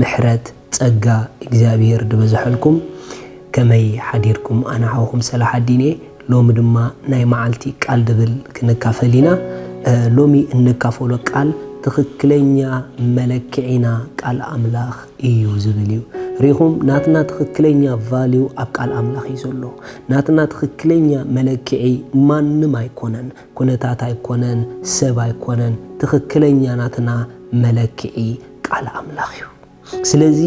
ምሕረት ጸጋ እግዚኣብሄር ድበዘሐልኩም ከመይ ሓዲርኩም ኣነ ሓውኩም ሰላሓዲን እየ ሎሚ ድማ ናይ መዓልቲ ቃል ድብል ክንካፈል ኢና ሎሚ እንካፈሎ ቃል ትኽክለኛ መለክዒና ቃል ኣምላኽ እዩ ዝብል እዩ ሪኹም ናትና ትኽክለኛ ቫልዩ ኣብ ቃል ኣምላኽ እዩ ዘሎ ናትና ትኽክለኛ መለክዒ ማንም ኣይኮነን ኩነታት ኣይኮነን ሰብ ኣይኮነን ትኽክለኛ ናትና መለክዒ ቃል ኣምላኽ እዩ። ስለዚ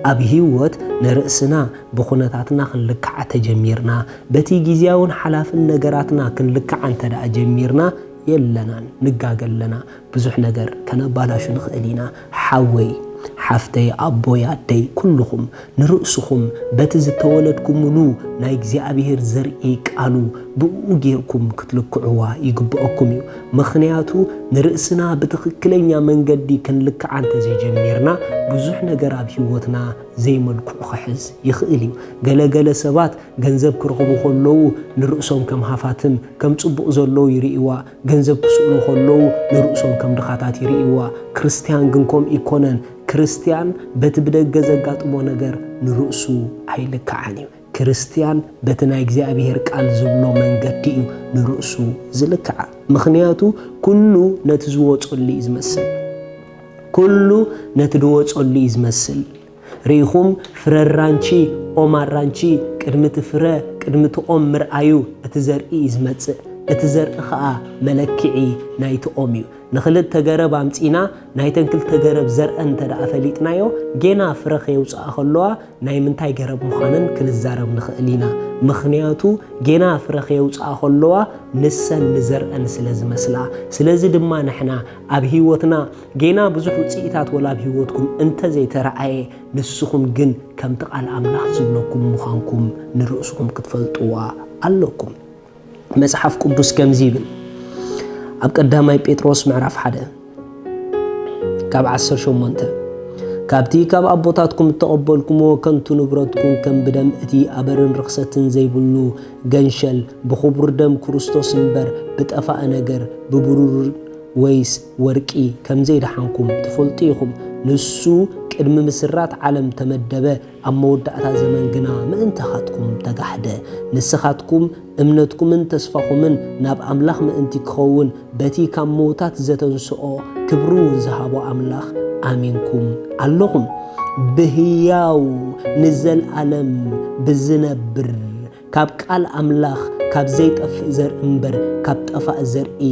ኣብ ህይወት ንርእስና ብኹነታትና ክንልክዓ ተጀሚርና፣ በቲ ግዝያውን ሓላፍን ነገራትና ክንልክዓ እንተድኣ ጀሚርና የለናን ንጋገ ኣለና። ብዙሕ ነገር ከነባላሹ ንኽእል ኢና። ሓወይ ሓፍተይ ኣቦይ ኣደይ ኩሉኹም ንርእስኹም በቲ ዝተወለድኩምሉ ናይ እግዚኣብሄር ዘርኢ ቃሉ ብእኡ ጌርኩም ክትልክዕዋ ይግበኣኩም እዩ። ምኽንያቱ ንርእስና ብትኽክለኛ መንገዲ ክንልክዓ እንተዘይጀሚርና ብዙሕ ነገር ኣብ ህይወትና ዘይመልክዑ ክሕዝ ይኽእል እዩ። ገለ ገለ ሰባት ገንዘብ ክረኽቡ ከለዉ ንርእሶም ከም ሃፋትም ከም ጽቡቕ ዘለዉ ይርእይዋ። ገንዘብ ክስእኑ ከለዉ ንርእሶም ከም ድኻታት ይርእይዋ። ክርስትያን ግን ከምኡ ኣይኮነን። ክርስትያን በቲ ብደገ ዘጋጥሞ ነገር ንርእሱ ኣይልክዓን እዩ። ክርስትያን በቲ ናይ እግዚኣብሄር ቃል ዝብሎ መንገዲ እዩ ንርእሱ ዝልክዓ። ምኽንያቱ ኩሉ ነቲ ዝወጸሉ እዩ ዝመስል። ኩሉ ነቲ ድወጸሉ እዩ ዝመስል። ርኢኹም ፍረ ኣራንቺ ኦም ኣራንቺ ቅድሚ እቲ ፍረ ቅድሚ እቲ ኦም ምርኣዩ እቲ ዘርኢ እዩ ዝመጽእ። እቲ ዘርኢ ኸኣ መለክዒ ናይቲ ኦም እዩ። ንክልተ ገረብ ኣምጺእና ናይተን ክልተ ገረብ ዘርኣን እንተደኣ ፈሊጥናዮ ጌና ፍረ ከየውጽኣ ከለዋ ናይ ምንታይ ገረብ ምዃነን ክንዛረብ ንኽእል ኢና። ምኽንያቱ ጌና ፍረ ከየውጽኣ ከለዋ ንሰን ንዘርኣን ስለ ዝመስላ። ስለዚ ድማ ንሕና ኣብ ህይወትና ጌና ብዙሕ ውጽኢታት ወላ ኣብ ህይወትኩም እንተዘይተራእየ ንስኹም ግን ከምቲ ቃል ኣምላኽ ዝብለኩም ምዃንኩም ንርእስኹም ክትፈልጥዋ ኣለኩም። መጽሓፍ ቅዱስ ከምዚ ይብል ኣብ ቀዳማይ ጴጥሮስ ምዕራፍ ሓደ ካብ ዓሰርተ ሸሞንተ ካብቲ ካብ ኣቦታትኩም እተቐበልኩምዎ ከንቱ ንብረትኩም ከም ብደም እቲ ኣበርን ርኽሰትን ዘይብሉ ገንሸል ብኽቡር ደም ክርስቶስ እምበር ብጠፋእ ነገር ብብሩር ወይስ ወርቂ ከም ዘይደሓንኩም ትፈልጡ ኢኹም። ንሱ ቅድሚ ምስራት ዓለም ተመደበ፣ ኣብ መወዳእታ ዘመን ግና ምእንታኻትኩም ተጋሕደ። ንስኻትኩም እምነትኩምን ተስፋኹምን ናብ ኣምላኽ ምእንቲ ኪኸውን፣ በቲ ካብ ምዉታት ዘተንስኦ ክብሪውን ዝሃቦ ኣምላኽ ኣሚንኩም ኣሎኹም። ብህያው ንዘለኣለም ብዚነብር ካብ ቃል ኣምላኽ ካብ ዘይጠፍእ ዘርኢ እምበር፣ ካብ ጠፋእ ዘርኢ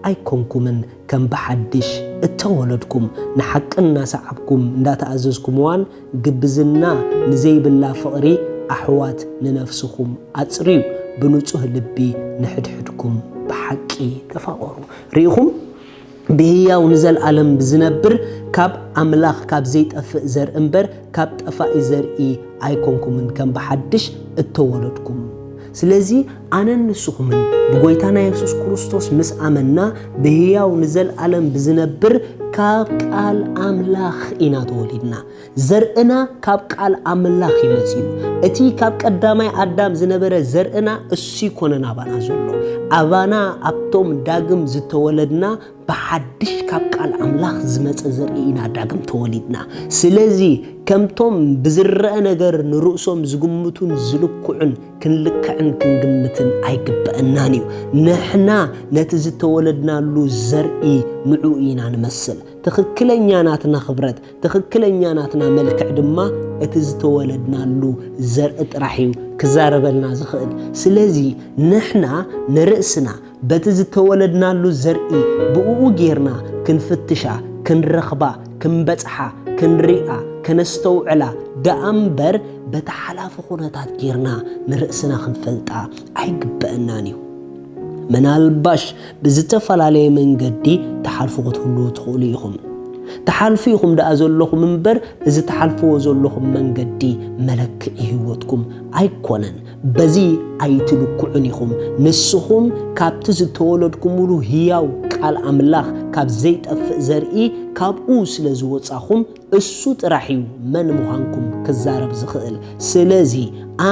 ኣይኮንኩምን፣ ከም ብሓድሽ እተወለድኩም፣ ንሓቂ እናሰዓብኩም እንዳተኣዘዝኩምዋን፣ ግብዝና ንዘይብላ ፍቕሪ ኣሕዋት ንነፍስኹም ኣጽርዩ ብንጹህ ልቢ ንሕድሕድኩም ብሓቂ ተፋቐሩ ርኢኹም ብህያው ንዘልኣለም ብዝነብር ካብ ኣምላኽ ካብ ዘይጠፍእ ዘርኢ እምበር ካብ ጠፋኢ ዘርኢ ኣይኮንኩምን ከም ብሓድሽ እተወለድኩም ስለዚ ኣነን ንስኹምን ብጎይታና የሱስ ክርስቶስ ምስ ኣመንና ብህያው ንዘልኣለም ብዝነብር ካብ ቃል ኣምላኽ ኢና ተወሊድና። ዘርእና ካብ ቃል ኣምላኽ እዩ መጺኡ። እቲ ካብ ቀዳማይ ኣዳም ዝነበረ ዘርእና እሱ ይኮነን ኣባና ዘሎ። ኣባና ኣብቶም ዳግም ዝተወለድና ብሓድሽ ካብ ቃል ኣምላኽ ዝመጸ ዘርኢ ኢና ዳግም ተወሊድና። ስለዚ ከምቶም ብዝረኣ ነገር ንርእሶም ዝግምቱን ዝልክዑን ክንልክዕን ክንግምትን ኣይግበእናን እዩ። ንሕና ነቲ ዝተወለድናሉ ዘርኢ ንዕኡ ኢና ንመስል። ትኽክለኛ ናትና ክብረት፣ ትኽክለኛ ናትና መልክዕ ድማ እቲ ዝተወለድናሉ ዘርኢ ጥራሕ እዩ ክዛረበልና ዝኽእል። ስለዚ ንሕና ንርእስና በቲ ዝተወለድናሉ ዘርኢ ብእኡ ጌርና ክንፍትሻ፣ ክንረኽባ፣ ክንበጽሓ፣ ክንሪኣ፣ ከነስተውዕላ ደኣ እምበር በቲ ሓላፊ ኩነታት ጌርና ንርእስና ክንፈልጣ ኣይግበእናን እዩ። ምናልባሽ ብዝተፈላለየ መንገዲ ትሓልፉ ክትህልዉ ትኽእሉ ኢኹም። ትሓልፉ ኢኹም ደኣ ዘሎኹም እምበር እዚ ትሓልፍዎ ዘሎኹም መንገዲ መለክዒ ህይወትኩም ኣይኮነን። በዚ ኣይትልክዑን ኢኹም፣ ንስኹም ካብቲ ዝተወለድኩምሉ ህያው ቃል ኣምላኽ ካብ ዘይጠፍእ ዘርኢ ካብኡ ስለ ዝወጻኹም እሱ ጥራሕ እዩ መን ምዃንኩም ክዛረብ ዝኽእል። ስለዚ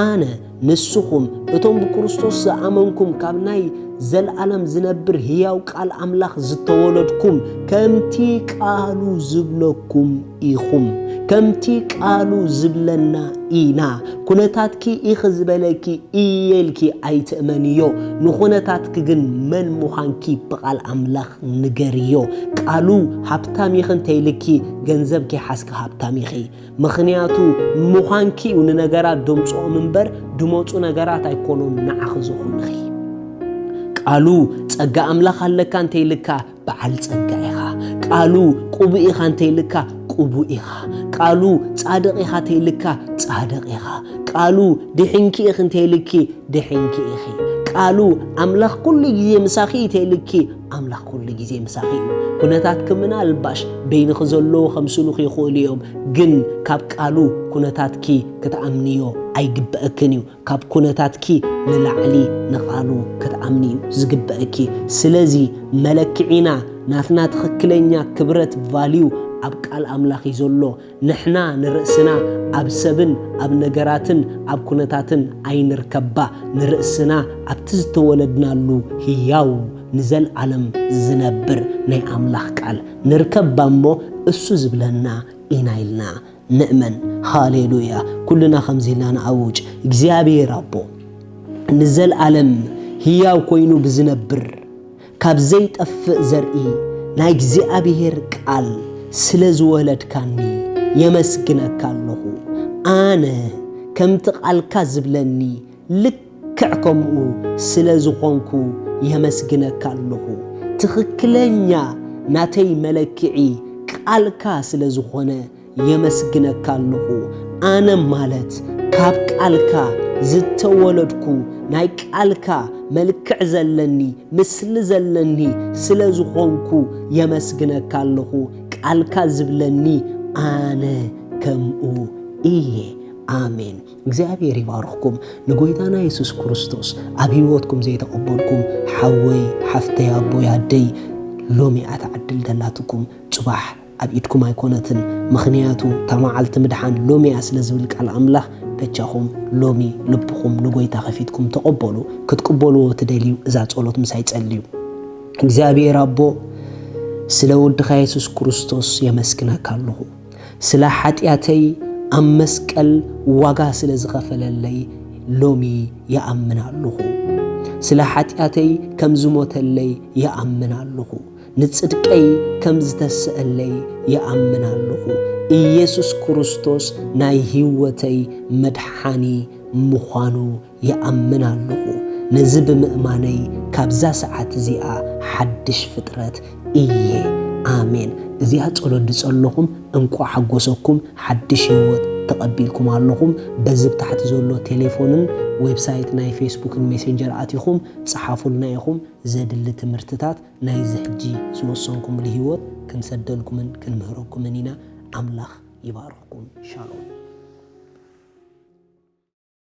ኣነ ንስኹም እቶም ብክርስቶስ ዝኣመንኩም ካብ ናይ ዘልኣለም ዝነብር ህያው ቃል ኣምላኽ ዝተወለድኩም ከምቲ ቃሉ ዝብለኩም ኢኹም ከምቲ ቃሉ ዝብለና ኢና ኩነታትኪ ኢኺ ዝበለኪ እየ ኢልኪ ኣይትእመንዮ ንኹነታትኪ ግን መን ምዃንኪ ብቓል ኣምላኽ ንገርዮ ቃሉ ሃብታም ኢኺ እንተኢልኪ ገንዘብ ከይሓዝኪ ሃብታም ኢኺ ምኽንያቱ ምዃንኪ እዩ ንነገራት ደምፅኦም እምበር ድመፁ ነገራት ኣይኮኑን ንዓኺ ዝኾንኺ ቃሉ ፀጋ ኣምላኽ ኣለካ እንተኢልካ በዓል ጸጋ ኢኻ ቃሉ ቅቡእ ኢኻ እንተይልካ ቅቡእ ኢኻ ቃሉ ጻድቕ ኢኻ ተይልካ ጻድቕ ኢኻ ቃሉ ድሕንኪ ኢኺ እንተይልኪ ድሕንኪ ኢኺ ቃሉ ኣምላኽ ኩሉ ግዜ ምሳኺ እዩ ተይልኪ ኣምላኽ ኩሉ ግዜ ምሳኺ እዩ ኩነታት ክምና ልባሽ በይንኺ ዘለዉ ከምስሉኺ ይኽእሉ እዮም ግን ካብ ቃሉ ኩነታትኪ ክትኣምንዮ ኣይግበእክን እዩ ካብ ኩነታትኪ ንላዕሊ ንቓሉ ክትኣምኒ እዩ ዝግበእኪ ስለዚ መለክዒና ናትና ትኽክለኛ ክብረት ቫልዩ ኣብ ቃል ኣምላኽ እዩ ዘሎ ንሕና ንርእስና ኣብ ሰብን ኣብ ነገራትን ኣብ ኩነታትን ኣይንርከባ ንርእስና ኣብቲ ዝተወለድናሉ ህያው ንዘልኣለም ዝነብር ናይ ኣምላኽ ቃል ንርከባ እሞ እሱ ዝብለና ኢና ኢልና ንእመን። ሃሌሉያ! ኩልና ከምዚ ኢልና ንኣውጅ፣ እግዚኣብሄር ኣቦ ንዘልኣለም ህያው ኮይኑ ብዝነብር ካብ ዘይጠፍእ ዘርኢ ናይ እግዚኣብሄር ቃል ስለ ዝወለድካኒ የመስግነካ ኣለኹ። ኣነ ከምቲ ቃልካ ዝብለኒ ልክዕ ከምኡ ስለ ዝኾንኩ የመስግነካ ኣለኹ። ትኽክለኛ ናተይ መለክዒ ቃልካ ስለ ዝኾነ የመስግነካ ኣለኹ። ኣነ ማለት ካብ ቃልካ ዝተወለድኩ ናይ ቃልካ መልክዕ ዘለኒ ምስሊ ዘለኒ ስለ ዝኾንኩ የመስግነካ ኣለኹ። ቃልካ ዝብለኒ ኣነ ከምኡ እየ። ኣሜን። እግዚኣብሔር ይባርኽኩም ንጎይታና የሱስ ክርስቶስ ኣብ ህይወትኩም ዘይተቐበልኩም ሓወይ ሓፍተይ ኣቦይ ኣደይ ሎሚ እያ ትዓድል ዘላትኩም ጽባሕ ኣብ ኢድኩም ኣይኮነትን ምኽንያቱ እታ መዓልቲ ምድሓን ሎሚ እያ ስለ ዝብል ቃል ኣምላኽ በጃኹም ሎሚ ልብኹም ንጎይታ ከፊትኩም ተቐበሉ ክትቅበልዎ ትደልዩ እዛ ጸሎት ምሳይ ጸልዩ እግዚኣብሔር ኣቦ ስለ ወድኻ የሱስ ክርስቶስ የመስግነካ ኣለኹ ስለ ሓጢኣተይ ኣብ መስቀል ዋጋ ስለ ዝኸፈለለይ ሎሚ ይኣምን ኣሉኹ። ስለ ሓጢኣተይ ከም ዝሞተለይ ይኣምን ኣሉኹ። ንጽድቀይ ከም ዝተሰእለይ ይኣምን ኣሉኹ። ኢየሱስ ክርስቶስ ናይ ሕይወተይ መድሓኒ ምዃኑ ይኣምን ኣለኹ። ነዚ ብምእማነይ ካብዛ ሰዓት እዚኣ ሓድሽ ፍጥረት እየ። ኣሜን። እዚኣ ጸሎት ድጸለኹም እንቋዕ ሓጎሰኩም ሓድሽ ህይወት ተቐቢልኩም ኣለኹም። በዚ ብ ታሕቲ ዘሎ ቴሌፎንን ዌብሳይት ናይ ፌስቡክን ሜሴንጀር ኣቲኹም ጸሓፉልና ኢኹም ዘድሊ ትምህርትታት ናይዚ ሕጂ ዝወሰንኩምሉ ህይወት ክንሰደልኩምን ክንምህረኩምን ኢና። ኣምላኽ ይባርኽኩም። ሻሎም።